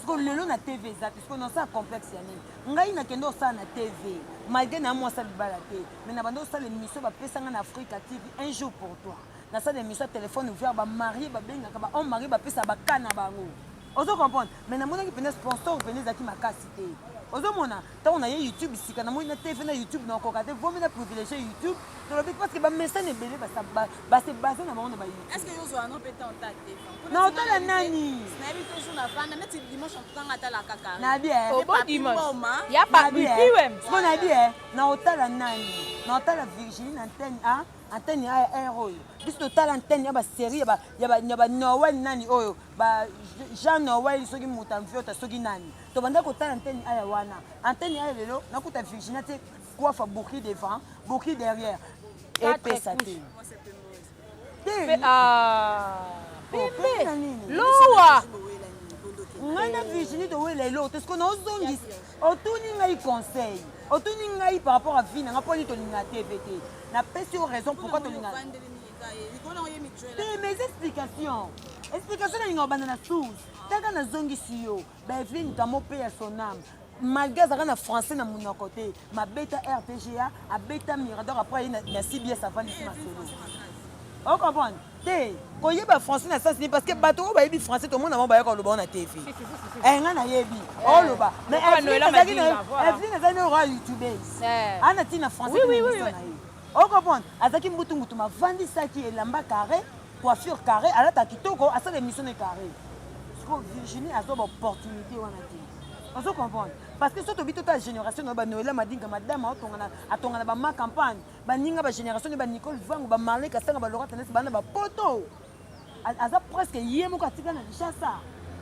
siko lelo na tv eza te siko nasala complexe ya nini ngai nakende osala na tv malgré na mwasi ya libala te mais na banda osala émission bapesa ngai na afrika tv un jour pour toi nasala émission ya téléphone ouvert bamarie babengaka bahomme marie bapesa baka na bango ozo comprendre mais namonaki mpenza sponsor mpenza ezalaki makasi te ozomona Tango na ye YouTube sika na moni na TV na YouTube na koka te vomi na privilégier YouTube tolobi parce que ba message ebele ba ba se baser na bango na ba YouTube. Est-ce que yo zo ano peta en tag te? Na otala nani? Na yebi toujours na vanda mais ti dimanche en tout cas ngata la kaka. Na bien. Au bon dimanche. Ya pa biwem. Bon na bien. Na otala nani? Na otala Virginie na antenne ah antenne ya air oyo biso totala antenne ya baserie ya banoel nani oyo ba jean noel soki moto amviota soki nani tobanda kotala antene aya wana antene aya lelo nakuta virginia te coiffe bourki devant bourki derrière epesa te te ah, pembe lowa ngai na virginie towela eloko te sikoyo naozongisa otuni ngai conseil otuni ngai par rapport a vie na ngai mpo nini tolinga tv te napesi yo raison pourquoi tolinga te mais explication explication nalinga obanda na source taka nazongisi yo Bevin Kamo pe ya son âme. Malgré azalaka na français na monoko te, mabeta RTGA, abeta Mirador après aye na, na CBS avandisi masolo. O comprendre? Te, koyeba français na sens nini parce que bato oyo bayebi français tomona bango bayaka koloba ngo na TV. Eh nga nayebi. Oloba. Mais Lokola Evelyn Noëlla azalaki na Madinga, voilà. Evelyn azalaki na roi youtubeuse. Eh. Ana tina français Oui, oui, oui, oui. na ye. O comprendre? Azalaki mbutu mbutu mavandisaki elamba carré Coiffure carré alata kitoko asala emission ne carré. Siko Virginie azo ba opportunité wana te. Ozo comprendre parce que soki tobi tota génération na ba Noëlla Madinga madame atongana atongana ba ma campagne baninga ba génération ne ba Nicole Vangu ba Marley Kasanga ba Laura Tendance bana ba poto aza presque ye moko atika na Kinshasa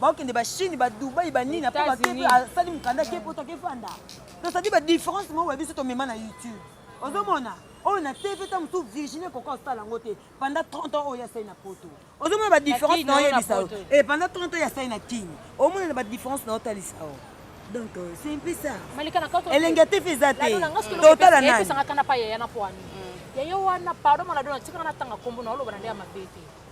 bakende ba chine ba dubai ba nini apo bakepe asali mokanda ke poto akefanda tosadi ba différence moko ya biso tomema na youtube ozomona oyo na tv ta mosusu virginie koka osala yango te pendant 30 ans oyo asali na poto ozomona ba différence na oyebisa yo e pendant 30 ans asali na king omona na ba différence na otalisa yo donc euh, c'est un peu ça elenge te fe eza te totala nani yayo wana pardon mwana dona tikaka natanga kombo na oloba na nde ya mabe te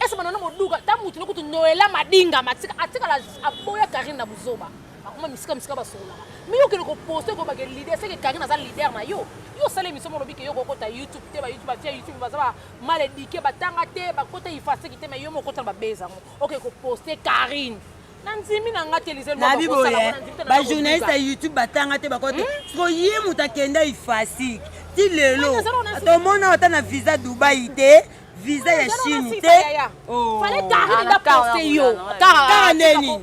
ese banana moduka ta mutu no kutu noela madinga matika atikala aboya karine na buzoba bakoma misika misika basololaka mi yo kende koposte koyeba ke leader seke karine aza leader na yo yo osala emission molobi ke yo kokota youtube te bayoutube bafia youtube baza ba mal edike batanga te bakota ifaseki te ma yo mokota na babeza yango oke koposte karine nandimi na nga te lizelnabi boye bajournaliste ya youtube batanga te bakota hmm? siko ye moto akenda ifasiki ti lelo tomona ata na visa dubai te visa ya chine te oh. kara neni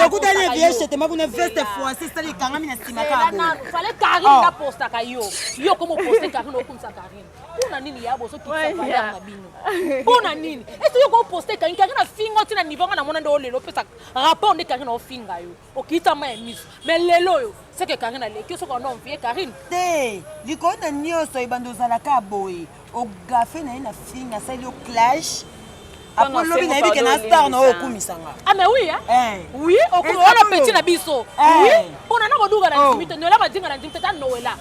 okutani eviye chetema kuna veste français esali ekangami na nsima mpona nini ya bozokisaaana bino mpona nini esi yo koposte ekangi kangi na fingo ntina nivo nga na mona nde olelo opesa rapport nde kangi na ofinga yo okita ma ya miso mais lelo oyo seke karine aleki yo soki wana omvie karine te likolo na nyonso ebanda ozalaka boye ogafe na ye na fing asali yo clash apres lobi nayebi ke na star na oyo okumisanga ame ah, wi eh. wi wana peti na biso eh. wi mpona na koduka na ndimi oh. te noela madinga na ndimi te ta noela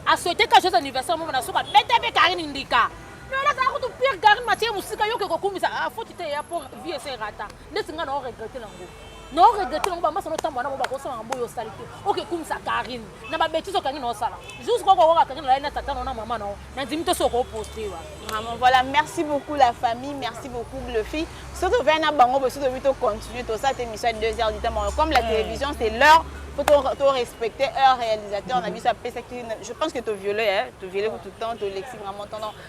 asouete ka joyeux anniversaire momo na soki abeta mpe karine ndika noela azala kutu pire karine matie mosika yoke kokumisa ah, foti te ya po vie eserata ndeti ngai na o regrete nango na oregrete nango bamasa notambola nango bakosala na boyo osali te okekumisa karine na babetise okangi na osala juste koko okoka karine olali na tata nao na mama nao nandimi to soki okoposte wa vraiment voilà merci beaucoup la famille merci beaucoup bluffy soki ovai na bango bosi tobi tocontinue tosala te émission ya 2 heures du temps comme la mm. télévision c'est l'heure faut to respecter heure réalisateur na mm-hmm. biso apesaki je pense que to viole to viole tout le temps to lexi vraiment tendant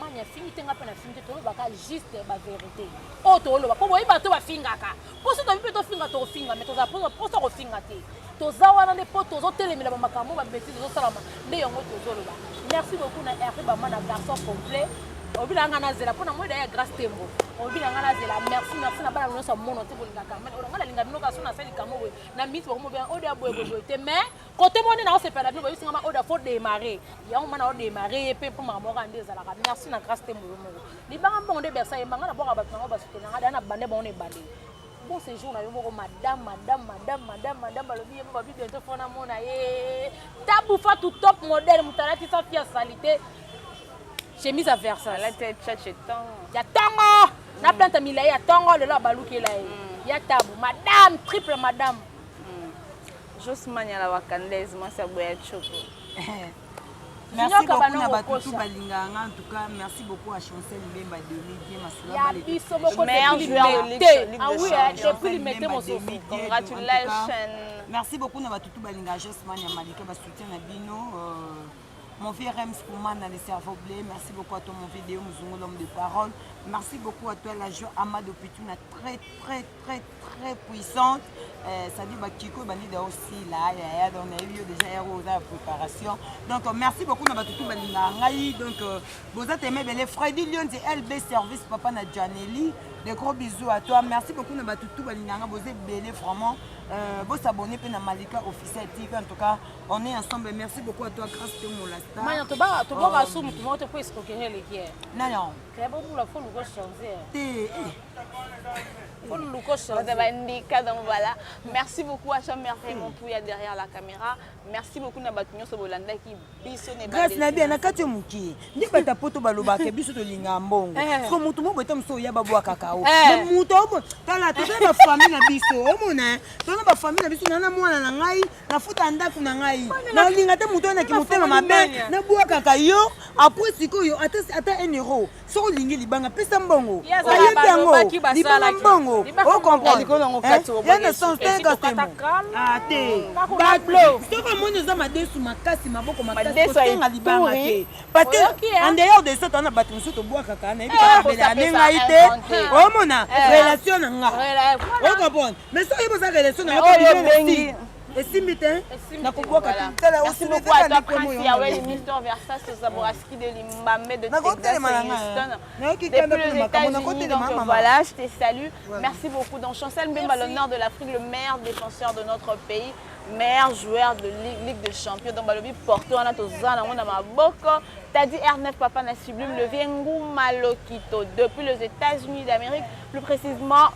mani afingi te nga mpe nafingi te tolobaka juste baverité oyo toloba mpo boyebi bato bafingaka mpo soki tobi mpe tofinga tokofinga me tozala mposa mposa kofinga te toza wana nde mpo tozotelemela bamakambo babetise ezosalama nde yango tozoloba merci beaucoup na rp bama na garçon complet obi na nga nazela mpo na moi daya grace tembo obi na nga nazela merci merci na bana nyonso ya mono te bolingaka olanga nalinga bino kaka so nasali likambo boye na miniti bakomobe oyo ya boye boye te mais kote moni na osepela bino boyebisi ngama oda fo démarre yango mana odémarre ye mpe mpo makambo moko nde ezalaka merci na grâce te moyo moko libanga mbongo nde bersa yemba ngai nabwaka bato nango basutena ngai da na bande bango na ebandeli bon séjour na yo moko madame madame madame madame madame balobi ye babi bientôt fo namona ye tabufa tu top modèle moto alati sa fia salite chemise ya versace ya tongo na plante milai ya tongo lelo abalukela ye ya tabu madame triple madame Jos Manyala wa Kandaise, mwasi ya Boya Tshoko. merci beaucoup na bato tout balingaka nga en tout cas merci beaucoup à chancel mbemba demi bien masula biso moko limete ah oui hein, depuis limete mosusu congratulations merci beaucoup na bato tout balingaka josman ya malika basoutien na bino euh, mon vieux Rems Koumana, le cerveau blé. Merci beaucoup à toi, mon vidéo, Mouzungo, l'homme de parole. Merci beaucoup à toi, la joie Amado Pituna. Très, très, très très puissante euh, ça dit ba kiko ba nida aussi là ya ya donc nayebi yo déjà ya oza ya préparation donc euh, merci beaucoup na bato tout balingaka ngai donc euh, boza teme ebele Freddy Lions et LB service papa na Janelli de gros bisous à toi merci beaucoup na bato tout balingaka ngai boza ebele vraiment euh, bo s'abonner mpe na Malika officiel TV en tout cas on est ensemble merci beaucoup à toi grâce to molasta maya toba toboka sumu tumoto po esikokerele kie non non kaya bobula fo luko changer te eh. Vous avez indiqué, donc voilà. Merci beaucoup à Chamber et mon pouya derrière la caméra. Merci beaucoup na bato nyonso bolanda ki biso ne Grâce na bien na kati muki. Ndi bata poto baloba ke biso to linga mbongo. Eh. Ko mutu moko etam so ya babu kakao. Eh. Na mutu obo tala to ba famille na biso. Omona to na ba famille na biso na na mwana na ngai na futa ndaku na ngai. Na linga te mutu na ki mutema mabe na bua kakayo. Après sikoyo ata ata 1 euro. soki olingi libanga pesa mbongo bayebi yango libanga mbongo ocomprendesoki omoni oza madesu makasi maboko makasikosenga libanga te parce que en dehors de soto wana bato mosusu tobwakaka nayebi kabela ya nde ngai te omona relation na nga ocomprende mais soki oza relation na nga esimbi te nakoboka tala osimitekanikomionakotelema na ngayokikandaonakotelemaamamvoilà je te salue merci beaucoup donc chancel mbemba l'honneur de l'afrique le meilleur défenseur de notre pays meilleur joueur de ligue, ligue de champion donc balobi porto wana toza nango na maboko tadi r9 papa na sublime levier nguma lokito depuis les états-unis d'amérique plus précisément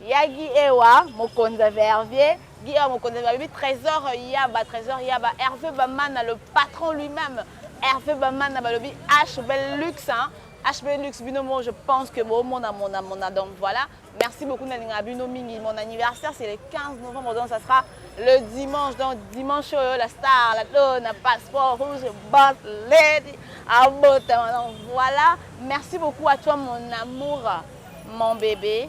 Ya Guy Ewa mokonza vervier Guy Ewa mokonza babi trésor yaba trésor yaba Hervé Bamana le patron lui-même Hervé Bamana balobi H bel luxe hein H bel luxe bino mo je pense que bo mona mona mona donc voilà merci beaucoup nalinga bino mingi mon anniversaire c'est le 15 novembre donc ça sera le dimanche donc dimanche oyo la star la dona passeport rouge boss lady abotama donc voilà merci beaucoup à toi mon amour mon bébé